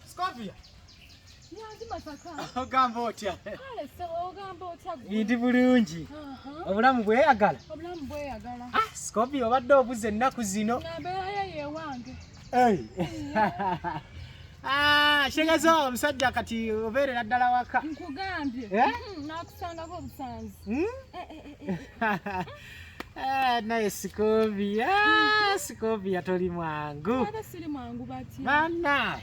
Scovia. ogamba otya ndi bulungi obulamu bweyagala ah, scobi obadde obuza ennaku zino Ah, Shengazo omusajja kati obeerera ddala waka. Nkugambye. Eh? Hmm, nakusangako obusanzi. Hmm? Eh, eh, Ah, naye Sikovia, ah, Sikovia toli mwangu bana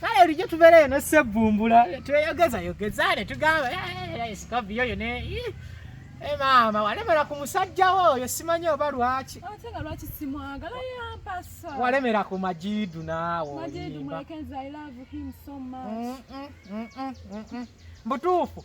kale olijjo tubeera eno sebbumbula tweyogeza yogeza ne tugamba eh, naye Sikovia oyo ne eh, maama walemera ku musajja wo oyo simanyi oba lwaki walemera ku majidu naawe mbutuufu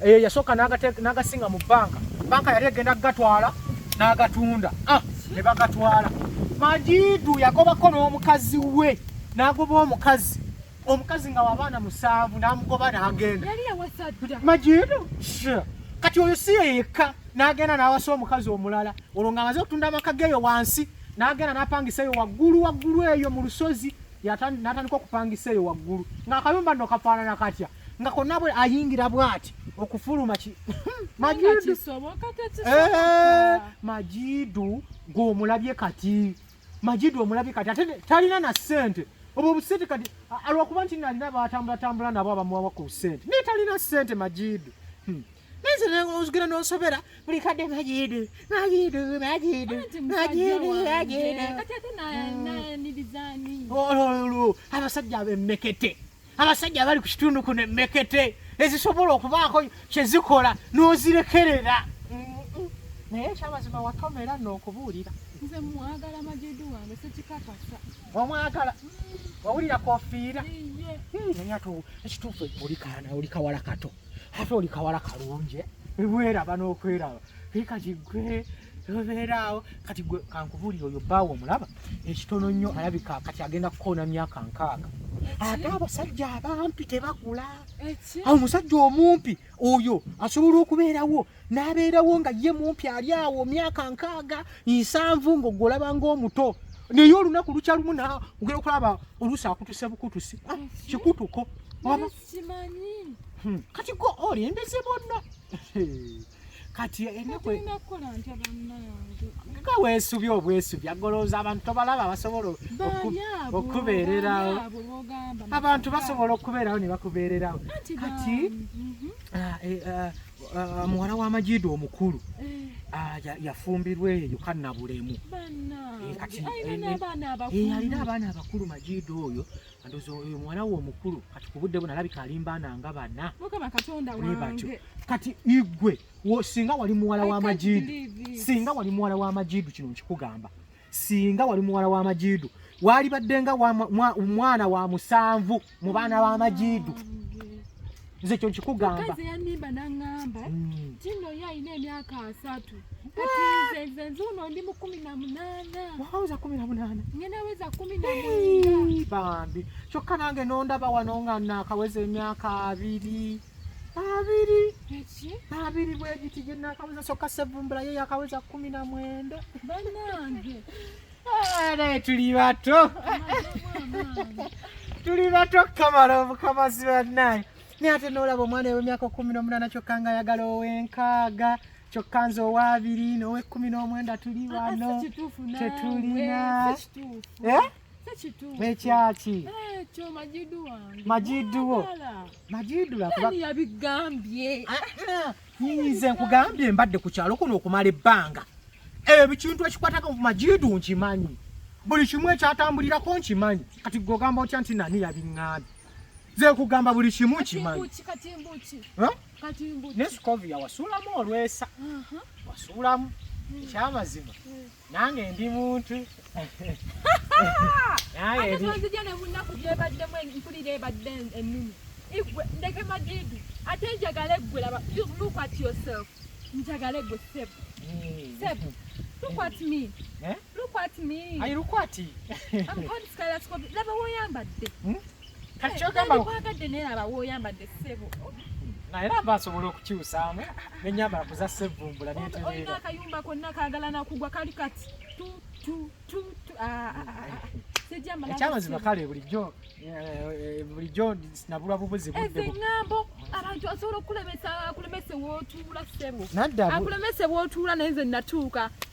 eyo eh, yasooka n'agasinga mu bbanka bbanka yali egenda kugatwala n'agatunda ah, ne bagatwala majidu yagobako n'omukazi we n'agoba omukazi omukazi nga wabaana musanvu n'amugoba n'agenda majidu kati oyo si yeyekka n'agenda n'awasa omukazi omulala olwo ng'amaze okutunda amaka geeyo wansi n'agenda n'apangisa eyo waggulu waggulu eyo mu lusozi natandika okupangisa eyo waggulu ngaakayumba no kafaanana katya nga konna bwe ayingira bwati okufuluma majidu eh, gwomulabye kati majidu omulabye kati ate talina na sente obwo obusente kati alwakuba nti nalina batambulatambula nabo abamuwawa ku sente naye talina sente majidu hmm. Nanze ozigera n'osobera buli kadde majidu majidu majidu majidu majidu. Kati ate nayanirizaani? Mm. Olwo abasajja abemmekete abasajja abali ku kitundu kuno emmekete ezisobola okubaako kye zikola n'ozirekerera naye ekyamazima watoma era n'okubuulira nze mwagala majidu wange sekikakasa omwagala mm. wawulira kofiira naye ate ekituufu oli kawala kato ate oli kawala kalungi eh? ebweraba n'okweraba naye kati gwe obeeraawo kati gwe kankubuulira oyo bbaawo omulaba ekitono nnyo alabika kati agenda kukoona myaka nkaaga ate abasajja abampi tebakula awo omusajja omumpi oyo asobola okubeerawo n'abeerawo nga ye mumpi ali awo myaka nkaaga nsanvu ng'ogwe olaba ng'omuto naye olunaku lukya lumu na ogera okulaba oluusi akutuse bukutusi ah, kikutuko kimanyi hmm. kati gwe olembeze bonna kati nga weesubye obwesubi agolooza abantu tobalaba basobola okubeererawo abantu basobola okubeerawo ne bakubeererawo kati mhm. ah, eh, ah, ah, muwala w'amajiido omukulu eh. yafumbirwa eyo kanabulemu eh, kati yalina abaana abakulu majiido oyo Andozo oyo mwana wo omukulu kati ku budde buno alabika alimba nanga bana. Mukama Katonda wange. Kati igwe wo singa wali muwala wa majidu. Singa wali muwala wa majidu kino nkikugamba. Singa wali muwala wa majidu. Wali baddenga wa mwana wa musanvu mu baana ba majidu. nze ekyo nkikugamba kazi yanimba nangamba mm. tino ye alina emyaka asatu kati nze nze nzuuno ndi mu kumi na munaana waweza kumi na munaana ngenaweza kumi na munaana bambi kyokka nange nondaba wano nga nakaweza emyaka abiri abiri abiri bwegiti gyenakaweza kyokka sevumbula ye yakaweza kumi na mwenda banange naye tuli bato tuli bato kamala obukamazi bannaye naye ate noolaba omwana ewemyaka kumi n'omunaana kyokka nga ayagala owenkaaga kyokka nze owaabiri n'owekkumi n'omwenda tuli ah, wano tetulina eh? ekyaki majiduwo majidu lwakubaa nze nkugambye mbadde ku kyalo kuno okumala ebbanga ebikintu ekikwatako ku majiidu nkimanyi buli kimu ekyatambulirako nkimanyi kati gogamba otya nti nani yabiŋŋaani nze nkugamba buli kimu nkimanyi nesikovi yawasuulamu olwesa wasuulamu ekyamazima hmm. nange ndi muntu nzija nebunaku gyebaddemu mpulira ebadde enumi igwe ndeke madidu ate njagala eggwe laba look at yourself njagala eggwe seb seb look at me eh? look at me ayi look at i'm called skylas kobe laba woyambadde hmm? kati kyogamba kwagadde naye laba woyambadde ssebo naye laba asobola okukyusaamu nenyambala kuza sevvumbula netereera akayumba konna kaagala nakugwa kali kati ekyamazima kale bulijjo eh, bulijjo nabulwa bubuzi buddeeŋambo abantu asobola okukulemesa akulemese wotuula ssebo akulemese wotuula naye nze natuuka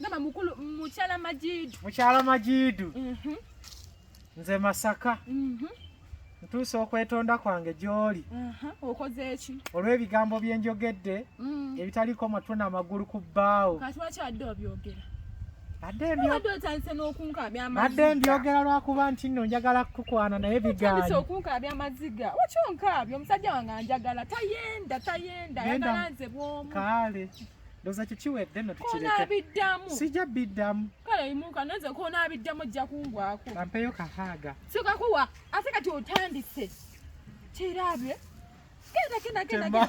Nama mukulu mukyala Majidu. Mukyala Majidu. Mhm. Nze Masaka. Mhm. Ntuuse okwetonda kwange gy'oli. Mhm. Okoze eki? Olw'ebigambo bye njogedde mm. ebitaliko matwe n'amagulu ku bbaawo. Kati lwaki adde obyogera? Badde mbyogera lwakuba nti nno njagala kukukwana naye bigaanyi. Okunkabya amaziga. Wakyo nkabya omusajja wange anjagala tayenda tayenda ayagala nze bw'omu. Kaale. ndoza kikiwedde no tukireke sijja biddamu kale imuka nze kona biddamu ojja kungwako kampeyo kahaga sika kuwa ate kati otandise kirabye kenda kenda kenda kenda